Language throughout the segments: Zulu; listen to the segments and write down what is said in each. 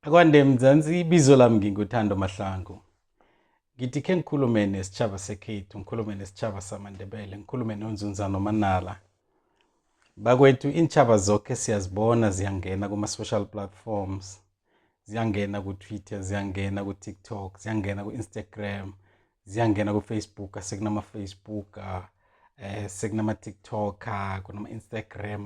Akwande Mzansi, ibizo lami nginguthando Mahlangu. Ngithi khe ngikhulume nesitshaba sekhethu, ngikhulume nesitshaba samaNdebele, ngikhulume nonzunza nomanala. Bakwethu iintshaba zoke siyazibona ziyangena kuma-social platforms, ziyangena ku-Twitter, ziyangena ku-TikTok, ziyangena ku-Instagram, ziyangena ku-Facebook, sekunama-Facebook, eh sekunama-TikTok, kunama-Instagram,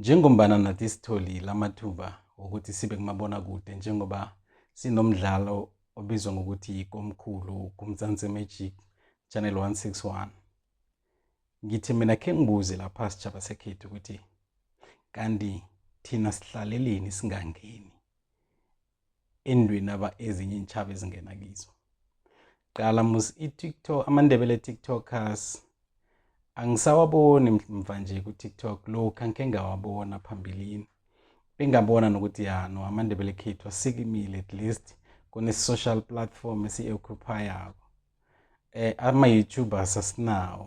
Njengombana nathi sitholile amathuba wokuthi sibe kumabonakude njengoba sinomdlalo obizwa ngokuthi yikomkhulu kumzansi magic channel 161 ngithi mina khe ngibuze lapha sitshaba sekhethu ukuthi kanti thina sihlaleleni singangeni endweni aba ezinye intshaba ezingena kizo qala mus i-tiktok amandebele tiktokers angisawaboni mva nje ku-tiktok lokhu angikhe ngawabona phambilini bengabona nokuthi ya no amandebele khethu asikimile at least kune-social platform esiyi-occupayako um eh, ama-youtubers asinawo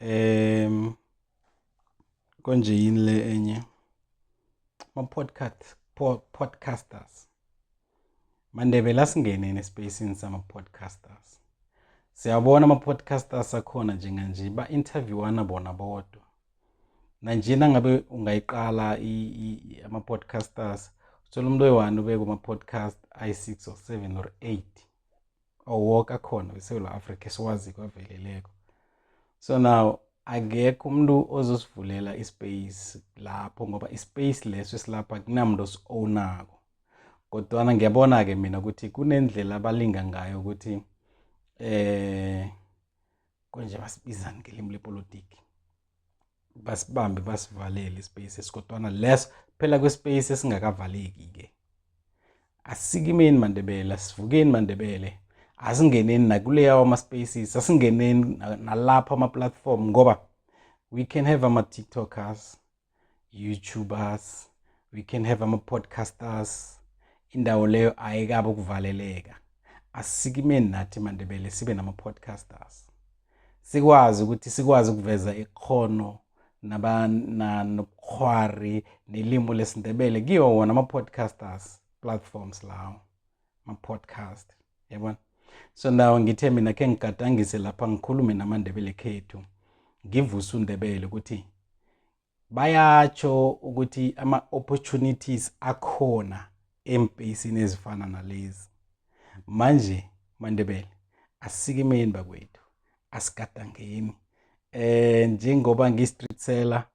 em konje yini le enye ma podcast podcasters mandebela singene nespacini sama podcasters siyabona ama podcasters akhona njenganje ba interviewana bona bodwa nanjena ngabe ungayiqala ama podcasters uthola umuntu oyi-one ubeke kuma-podcast ayi-six or seven or eight awoke akhona weSewula Africa esiwazi kwaveleleko so now akekho umuntu ozosivulela ispace lapho ngoba ispace leso esilapha kunamuntu osi-ownako kodwana ngiyabona-ke mina ukuthi kunendlela abalinga ngayo ukuthi eh konje basibizani ngelimi lepolitiki basibambe basivalele ispace esikodwana leso phela kwespace esingakavaleki ke asikimeni mandebele asivukeni mandebele asingeneni nakuleya wama spaces asingeneni nalapha ama platform ngoba we can have ama tiktokers YouTubers, we can have ama-podcasters. Indawo leyo ayikabe ukuvaleleka. Asikimeni nathi maNdebele sibe nama-podcasters. Sikwazi ukuthi sikwazi ukuveza ikhono nabana nobukhwari nelimi lesiNdebele kiwo wona ama-podcasters platforms lawo. ama-podcast yabona so now ngithe mina khe ngigadangise lapha ngikhulume namandebele khethu ngivuse undebele ukuthi bayatsho ukuthi ama-opportunities akhona embheyisini ezifana nalezi manje mandebele asikimeni bakwethu asigadangeni eh njengoba ngi-street seller